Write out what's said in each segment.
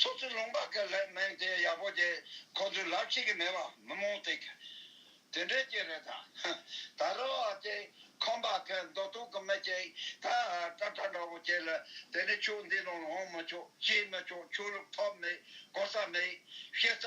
སོ་སོའི་ལུང་པ་གི་ལྷའི་མིང་དེ་ཡག་པོ་དེ་ཁོ་ཚོའི་ལབ་ཤེས་ཀྱི་མེད་པ་མི་མང་ཏིག་དེ་འདྲས་ཀྱི་རེད་ད། ད་རོ་ཨ་ཏི་ཁམས་པ་གི་མདོ་སྟོད་ཀྱི་མི་ཅིག་ད་ཀྲ་ཀྲ་འདྲ་བོ་དེ་ལ་དེ་ནས་ཆོས་འདི་ལོང་ལོང་མི་ཆོག་ཅིས་མི་ཆོག་ཆོས་ལུགས་ཐོབ་མེད་གོ་ས་མེད་ཤེས་ས་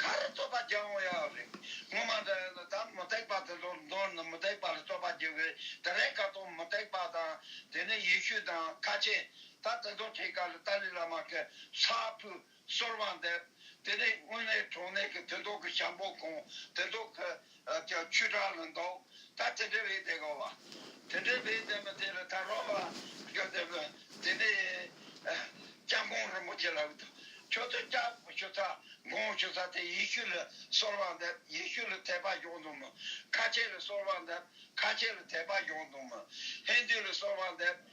ག་རེ་རྩོད་པ་བགྱི་འོང་ཡ་རེད། ངོ་མ་འདྲ་ཡ་ལ་ད་མུ་སྟེགས་པ་དེ་ཚོར་མདོར་ན་མུ་སྟེགས་པ་ལ་རྩོད་པ་བགྱི་བའི་དེ་རེས་ཀ་ཏོ་མུ་སྟེགས་པ་དང་དེ་ནས་ཡེ་ཤུ་དང་ཁ་ཆེ་ད་དེ་ཚོ་ཐེ་ཀ་ལ་ཏཱ་ལི་བླ་མ་ཀེ་ས་ཕུ་གསོལ་བ་འདེབས་དེ་ནས་དངོས་གནས་གྲོང་ནས་ཀི་དེ་ཚོ་ཀི་ཞང་པོ་ཁོང་དེ་ཚོ་ཀི། བརྒྱ་བཅུ་གྲངས་ལ་འདོགས། ད་དེ་འདྲའི་བའི་དེ་གོ་བ། དེ་འདྲའི་བའི་དེ་མ་དེ་ལ་ད་རོགས་པ། ཁྱོད་དེ་བས་དེ་ནས། སྐྱབས་ཁོང་རིན་པོ་ཆེ་ལ་བསྟོད། ཁྱོད་དེ་སྐྱབས་ཞུ་ས། འགོང་ཞུ་ས་དེ་ཡེ་ཤུ་ལ་གསོལ་བ་འདེབས། ཡེ་ཤུ་ལ་དད་པ་གཞོག་འདུག་མོད། ཁ་ཆེ་ལ་གསོལ་བ་འདེབས། ཁ་ཆེ་ལ་དད་པ་གཞོག་འདུག་མོད། ཧེ་འདུས་ལ་གསོལ་བ་འདེབས།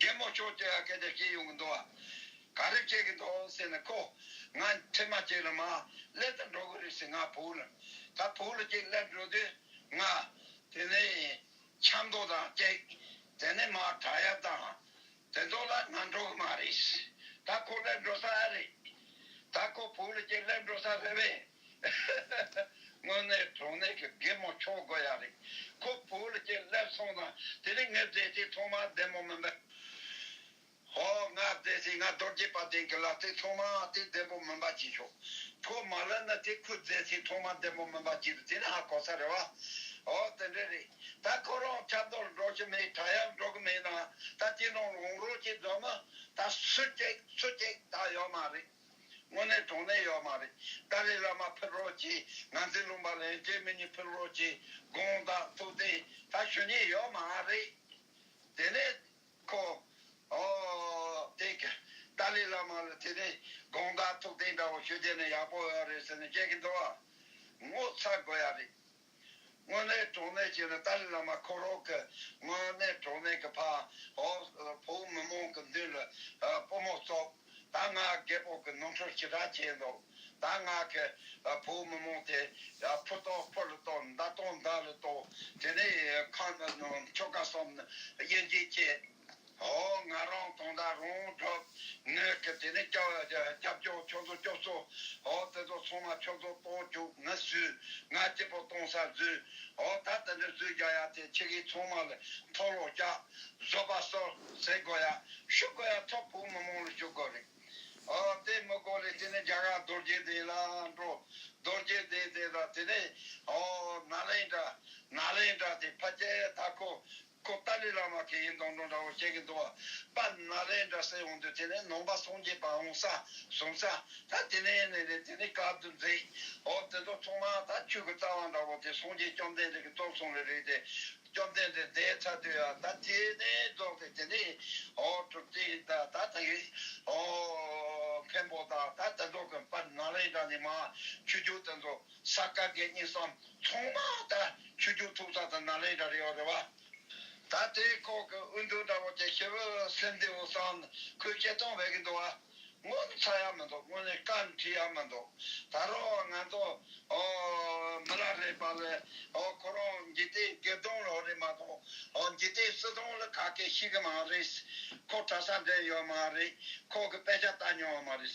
རྒན་མོ་ཁྱོད་ཀྱིས་སྐད་ཆ་བཤད་ཡོང་གི་འདུག་ཨ། ག་རེ་བཤད་གི་འདུག་ཟེར་ནས་ཁོ། ང་ཁྲིད་མ་བྱས་ལ་མ་སླེབས་དང་འགྲོ་གི་རེད་ཟེར་ང་བོའུ་ལ། ད་བོའུ་ལ་ཅིག་སླེབས་འགྲོ་དུས་ང། དེ་ནས་ཆབ་མདོ་དང་ཅིག། དེ་ནས་མ་བྲག་གཡབ་དང། དེ་ཚོ་ལ་ང་འགྲོ་གི་མ་རེད། ད་ཁོ་སླེབས་འགྲོ་ས་ཨ་རེད། ད་ཁོ་བོའུ་ལ་ཅིག་སླེབས་འགྲོ་ས་རེད་བས། དངོས་གནས་གྲོང་ནས་ཀྱི་རྒན་མོ་ཁྱོ་དགོས་ཡག་རེད་ཁོ་བོ་ལ་ཀྱི་སླེབས་སོང་ན་དེ་རིང་ངས་བསྡད་ཅིག་ཐོག་མར་བདེ་མོ་མིན་པ་ཧོ་ང་བསྡད་ཅིག་ང་རྡོ་རྗེ་པ་དེང་གི་ལག་ཏུ་ཐོག་མ་དེ་བདེ་མོ་མིན་པ་ཅིག་ཤོག་ཁོ་མ་ལེན་ན་དེ་ཁོས་བསྡད་ཅིག་ཐོག་མ་བདེ་མོ་མིན་པ་ཅིག་དེ་ནི་ཧ་གོ་ས་རེད་བ་ཨོ་དེ་འདྲས་རེད་ད་ཁོ་རང་ཆབ་མདོ་ལ་འགྲོ་གི་མེད་བྲག་གཡབ་འགྲོ་གི་མེད་ན་ད་དེ་ནང་ལ་འོང་རོགས་ཅིག་འདོད་ན་ད་སུ་སྐྱེག་སུ་སྐྱེག་ད་ཡོད་མ་རེད། དངོས་གནས་དོགས་གནས་ཡོད་མ་རེད། ཏཱ་ལའི་བླ་མ་ཕེབས་རོགས་གྱིས་ང་ཚའི་ལུང་པ་ལེན་རྒྱའི་མི་གཉིས་ཕེབས་རོགས་གྱིས་དགོངས་དག་ཐུགས་གཏན་ད་ཞུ་ཉེས་ཡོད་མ་རེད། དེ་ནས་ཁོ་དེ་ག་ཏཱ་ལའི་བླ་མ་ལ་དེ་ནས་དགོངས་དག་ཐུགས་གཏན་འདྲ་བོ་ཞུ་རྒྱ་ནས་ཡག་པོ་ཡོད་རེད་ཟེར་ནས་བཤད་གི་འདུག་བ། ངོ་ཚ་དགོས་ཡ་རེད། དངོས་གནས་གྲོགས་གནས་ཀྱི་ནི་ཏཱ་ལའི་བླ་མ་འཁོར་རོགས་ཀྱི་དངོས་གནས་གྲོགས་གནས་ཀྱི་ཕ་ཨོའོ་བོ་མི་མང་གི་མདུན་ལ་པུ་མོ་བཙོག་ད་ང་རྒད་པོ་གི་ནོར་འཁྲུལ་ཅི་དྲག་བྱས་འདུག་ད་ང་གི་བོ་མི་མང་དེ་ཕུ་བཏོག་ཕུ་ལ་བཏོག་མདའ་བཏོག་མདའ་ལ་བཏོག་དེ་ནས་ཁང་ནང་ཆོ་ག་གསུམ་ནི་དབྱེ་འབྱེད་བྱེད། ཧོ། ང་རང་གང་དག་རང་གྲུབ་གནས་ཀྱི་དེ་ནས་སྐྱབས་མཆོག་ཁྱོད་ཚོ་སྐྱོབས་སོ། ཧོ། དེ་ཚོ་ཚང་མ་ཁྱོད་ཚོ་ལྟོགས་བཅུག་ནི་སུས་ང་སྐྱིད་པོ་གཏོང་ས་བཟོས། ཧོ། ད་དེ་འདྲའི་བཟོས་རྒྱག་ཡ་དེ་ཁྱི་གིས་ཚང་མ་ལ་མཐོ་ལོག་རྒྱག། བཟོ་པ་སོ་ཟེར་དགོས་ཡ་ཞུ་དགོས་ཡ་ཚོགས་ཕུག་མི་མང་ལ་ཞུ་དགོས་རེད། ཧོ། དེ་མི་དགོས་ལས་དེ་ནས་རྒྱ་གར་རྡོ་རྗེ་གདན་ལ་འགྲོ། རྡོ་རྗེ་གདན་དེ་དང་དེ་ནས་ཧོ། ནཱ་ལེནྡྲ། Nalendra། དེ་ཕ་ཅལ་ད་ཁོ། ཁོ་ཏཱ་ལའི་བླ་མ་གི་ཡིན་དང་འགྲོ་འདྲ་བོ་བཤད་གི་འདུག་བ་པ་ན་རེ་འདྲ་སེ་འོང་དུས་དེ་ནས་ནང་པ་སངས་རྒྱས་པ་འོང་ས་བཟུང་ས་ད་དེ་ནས་ནས་ནས་དེ་ནས་ག་དུ་འཛེགས་འོ་དེ་ཚོ་ཚང་མ་ད་ཁྱོད་ཀྱི་རྩ་བ་འདྲ་བོ་དེ་སངས་རྒྱས་བཅོམ་ལྡན་འདས་ཀྱི་གཙོར་བཟུང་བའི་རིགས་དེ་བཅོམ་ལྡན་འདས་འདས་ཚར་དུས་ཡ་ད་དེ་ནས་རྫོགས་ཏེ་དེ་ནས་འོ་གྲུབ་ཏེ་ད་ད་ད་གི་འོ་འཕན་པོ་ད་ད་དེ་ཚོ་གི་པ་ན་རེ་འདྲ་ནས་མ་ཁྱོད་ཁྱོད་དེ་ཚོ། ས་ག་གེ་གཉིས་སམ་ཚོང་མ་དག་ཆུ་རྒྱུག་འཐུག་ཚ་དང་ན་ལེན་འདྲ་རེ་བ་རེ་བ། ད་ལྟའི་ཁོག་གི་དབུལ་འདོད་འདྲ་བོ་དེ་ཤི་བོ་སེམས་བདེ་བོ་སང་ཁོས་སྐྱེལ་གཏོང་བས་ཀྱི་འདུག་བ། སྔོན་ལ་ཚ་ཡ་མི་འདུག་སྔོན་ལ་སྐར་འཁྲི་ཡ་མི་འདུག་ད་རུང་ང་ཚོ་མི་ལ་རེ་བ་ལ་ཁོ་རང་འཇིག་རྟེན་སྒེར་སྡོང་ལ་རེ་མ་གཏོང་འཇིག་རྟེན་སྲིད་སྡོང་ལ་ག་གེ་ཤི་གི་མ་རེད། ཁོ་གྲྭ་ས་འགྲིམ་ཡོད་མ་རེད་ཁོག་གི་དཔེ་ཆ་ལྟ་མྱོང་བ་མ་རེད།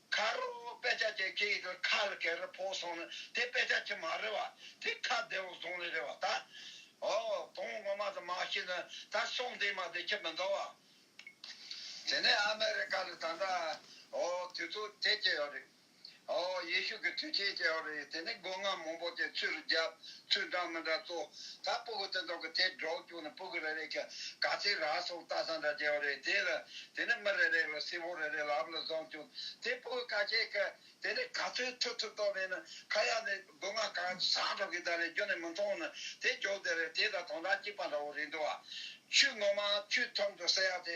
ཁ་རོ་དཔེ་ཆ་དེ་ཁྱེད་ཡིད་དུ་ཁ་ལ་གེ་རུ་ཕོག་སོང་ནི་དེ་དཔེ་ཆ་ཁྱེད་མ་རེད་བ་དེ་ཁ་བདེ་བོ་བཟུང་ལེ་རེད་བ་ད་ཨོ་དོང་ངོ་མ་དུ་མ་ཤེས་ན་ད་སོང་དེ་མ་དེ་ཁྱེད་མི་འདོར་བ། དེ་ནས་ཨ་མེ་རི་ཀ་ལ་ད་ལྟ་ཨོ་དུས་ཚོད་དེ་སྐྱེལ་ཡོད་རེད། ཨོ་ཡེ་ཤུ་གི་དུས་ཆེན་སྐྱེལ་ཡོད་རེད་དེ་ནས་སྒོ་ང་མང་པོ་དེ་ཚུར་རྒྱབ་ཚུལ་འདྲ་མི་འདྲ་གཙོ། ད་སྤུ་གུ་དེ་དག་གི་དེ་སྒྲོག་བཅུག་ནས་སྤུ་གུ་རེ་རེ་གི་ག་ཚད་ར་སོགས་རྟ་ཟ་འདྲ་བྱས་པ་རེད། དེ་ལ་དེ་ནས་མི་རེ་རེ་ལ་སེར་བོ་རེ་རེ་ལ་ཨབ་ལ་བཟང་བཅུག་དེ་སྤུ་གུ་ག་ཁྱེད་ཀི་དེ་ནས་ག་ཚོད་ཐུ་ཐུ་ཏོག་མེད་ན་ཁ་ཡག་ནས་སྒོ་ང་ག་ཟ་འདྲ་གི་ད་ལས་རྒྱུ་ནས་མི་མཐོང་ན་དེ་སྒྱོགས་དེ་རེ་དེ་ད་དོང་ད་སྐྱིད་པ་འདྲ་བོ་རེད་འདུག་བ། ཆུ་ངོ་མ་ཆུ་ཐོག་ཏུ་སེར་ཡག་དེ་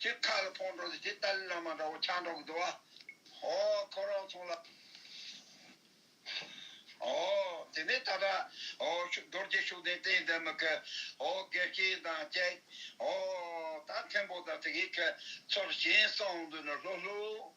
ཅེས་མཁའ་ལ་འཕོངས་འགྲོ་ཟེར་ཅེས་ཏཱ་ལའི་བླ་མ་འདྲ་བོ་ཆང་འདྲ་བོ་བསྡུ་བ། ཧོ། ཁོ་རང་ཚོང་ལ། ཧོ། དེ་ནས་ད་ལྟ། ཧོ། རྡོ་རྗེ་ཤུགས་ལྡན་བསྟན་འཛིན་མི་ཁི། ཧོ། དགེ་བསྐྱེད་དང་བཅས། ཧོ། ད་མཁན་པོ་དང་དེ་གའི་ཁྱོད། ཚོར་ཞིང་གསང་འདུས་ནོར་ལྷུག་ལྷུག།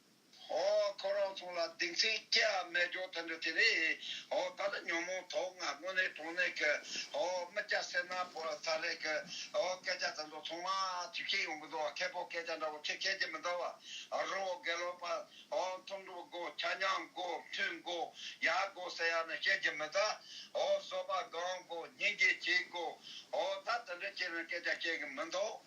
ཨོ། ཁོ་རང་ཚོ་ལ་སྡིག་མཚན་སྐྱེ་ཨ་སྨྲས་སྐྱོ་དོན་འདི་དེ་རེད། ཨོ་ད་ལ་ཉོན་མོངས་དོགས་ང་དངོས་གནས་གྲོང་ནས་ཁེ། ཨོ་མི་སྐྱ་སེར་ནག་ཕོ་ར་ཚ་རེད་ཁེ། ཨོ་སྐད་ཆ་དེ་ཚོ་ཚང་མ་ཐུགས་ཁྱེད་ཡོང་གི་འདུག་བ་ཁེ་ཕོ་སྐད་ཆ་འདྲ་བོ་ཁེ་ཁྱེད་ཀྱི་མི་འདྲ་བ། རི་བོ་དགེ་ལོག་པ། ཨོ་མཐོང་གྲུབ་དགོ་ཆ་མཉམ་དགོ་མཐུན་དགོ་ཡག་དགོ་ཟེར་ཡག་ནི་ཁྱེད་ཀྱི་མི་ད། ཨོ་བཟོ་པ་སྒང་དགོ་སྙིང་རྗེ་བྱེད་དགོ། ཨོ་ད་དེ་འདྲ་ཁྱེད་རང་སྐད་ཆ་ཤེས་གི་མི་འདུག།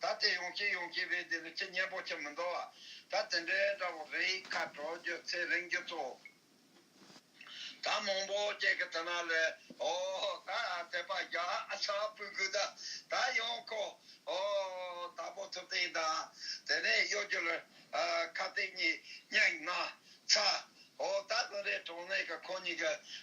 ད་དེ་ཡོང་སྐྱིད་ཡོང་སྐྱིད་རེད་དེ་ལས་ཁྱི་གཉན་པོ་ཁྱི་མི་འདུག་ཨ། ད་དེ་འདྲའི་དགྲ་བོ་རེད་ཁ་དྲོ་རྒྱུ་ཚེ་རིང་རྒྱུ་ཚོགས། ད་མང་པོ་སྐྱེ་གི་ཐ་ན་ལས་ཨོ། ད་དེ་པ་རྒྱ་ཨ་ཆ་པུ་དགུ་ད་ད་ཡོང་ཁོ་ཨོ། ད་པོ་ཐུབ་སྟེང་དང་དེ་ནས་གཡོ་སྒྱུ་ལ། ཁ་སྟེང་གཉིས་གཉིས་ན་ཚ། ཨོ་ད་དུང་རས་གྲོང་ནས་གི་ཁོ་གཉིས་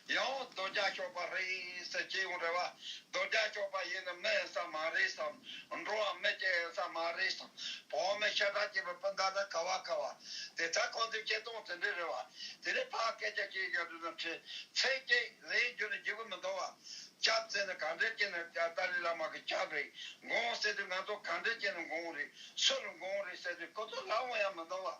ཀྱི་ཡང་རྡོ་རྒྱ་ཤོག་པ་རེད་ཟེར་སྐྱེ་ཡོང་རེད་བ། རྡོ་རྒྱ་ཤོག་པ་ཡིན་ནི་མི་ཡིན་ས་མ་རེད་བསམ། འགྲོ་བ་མི་སྐྱེ་ཡིན་ས་མ་རེད་བསམ། བོད་མི་ཤ་ཁྲག་གཅིག་པའི་སྤུན་ཟླ་ནི་ཁ་བ་ཁ་བ། དེ་ད་ཁོང་ཚོའི་སྐྱེ་སྟངས་དེ་འདྲས་རེད་བ། དེ་རིང་ཕ་སྐད་ཆ་ཤེས་ཀྱི་འདུག་ཟེར་ཁྲི་ཚེ་སྐྱིད་ལའི་རྒྱུ་ནི་འཇིགས་པ་མི་འདུག་བ། སྐྱབས་བཙན་ནི་གང་འདྲས་སྐྱེ་ནི་ཏཱ་ལའི་བླ་མ་གི་སྐྱབས་རེད་འགོང་ཟེར་དུས་ང་ཚོ་གང་འདྲས་སྐྱེ་ནི་འགོང་རེད་སུ་ལ་འགོང་རེད་ཟེར་དུས་ཁོ་ཚོ་ལ་འོང་ཡ་མི་འདུག་བ།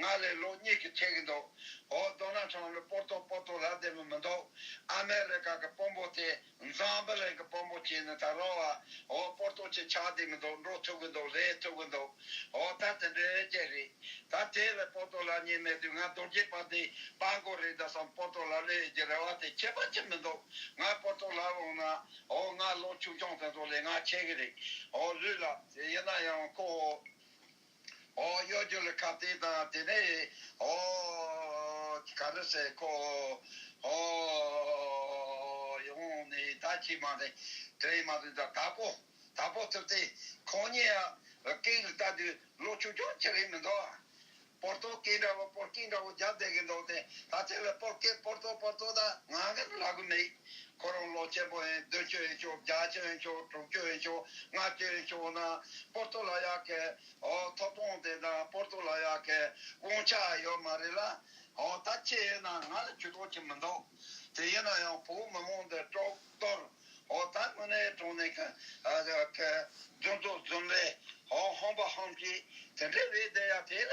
ང་ལས་ལོག་གཉིས་ཀྱིས་ཁྲེལ་གྱི་འདུག་འོ་རྡོ་ནག་ཁྲང་ལོས་པོར་ཏོ་པོར་ཏོ་ལབ་བསྡད་མི་མི་འདུག་ཨ་མེ་རི་ཀ་གི་དཔོན་པོ་དེ་འཛམ་བུ་གླིང་གི་དཔོན་པོ་བྱས་ནས་ད་རང་བ་འོ་པོར་ཏོ་ཆེད་ཆགས་བསྡད་མི་འདུག་འགྲོ་ཐུབ་གི་འདུག་ལས་ཐུབ་གི་འདུག་འོ་ད་དེ་འདྲའི་རྐྱེན་རེད་ད་དེ་ལས་པོར་ཏོ་ལ་ཉེས་མེད་དུས་ང་རྡོ་རྗེ་པ་འདི་དཔའ་མགོ་རེད་འདྲ་བསམ་པོར་ཏོ་ལ་ལས་ཡོད་ཀྱི་རེ་བ་དེ་ཁྱད་པར་ཅི་མི་འདུག་ང་པོར་ཏོ་ལ་ལོག་ན་འོ་ང་ལོ་ཆུང་ཆུང་དེ་ཚོ་ལས་ང་ཆེ་གི་རེད་འོ་ལུས་ལ་ཡིན་ན་ཡང་ཁོ་འོ། ཨོ་གཡོ་སྒྱུ་ལུས་ཁ་བལྟས་དང་དེ་ནས་ཨོ་ག་རུ་སའི་ཁོ་ཨོ་ཡོང་ནས་ད་ཁྱི་མ་རེད་དྲེད་མ་རེད་ད་དག་པོ་དག་པོ་ཐུབ་སྟེ་ཁོང་གཉིས་ཡ་རབས་སྐད་ཡིག་ལྟ་དུས་ལོ་ཆུང་ཆུང་ཅིག་རེད་མི་འདུག་པོར་ཏོ་སྐད་འདྲ་བོ་པོར་ཀིང་འདྲ་བོ་རྒྱབ་བསྡད་གི་འདུག་སྟེ་ད་ཐེངས་ལ་པོར་ཀེ་པོར་ཏོ་པོར་ཏོ་ད་ང་ག་རུ་ལ་གི་མེད། ཁོ་རང་ལོ་བརྒྱད་པོ་ཨེ་བདུན་བཅུ་ཨེ་བཅུ་བརྒྱ་བཅུ་ཨེ་བཅུ་དྲུག་བཅུ་ཨེ་བཅུ་ལྔ་བཅུ་ཨེ་བཅུ་ན་པོར་ཏོ་ལ་ཡ་ཁའི་ཐོབ་དཔོང་དེ་དང་པོར་ཏོ་ལ་ཡ་ཁའི་དཔུང་ཆ་ཡོད་མ་རེད་ལ། ད་ཁྱེད་ཡིན་ན་ང་ལ་ཇུས་གཏོགས་ཅི་མི་འདུག་དེ་ཡིན་ན་ཡང་བོད་མི་མང་འདི་དཀྲོག་གཏོར་ད་དངོས་གནས་དྲུང་ནས་ཁ་རྫུན་ཏོ་རྫུན་རེད་ཧམ་པ་ཧམ་གྱི་དེ་འདྲས་རེད་དེ་ཡ་དེ་ལ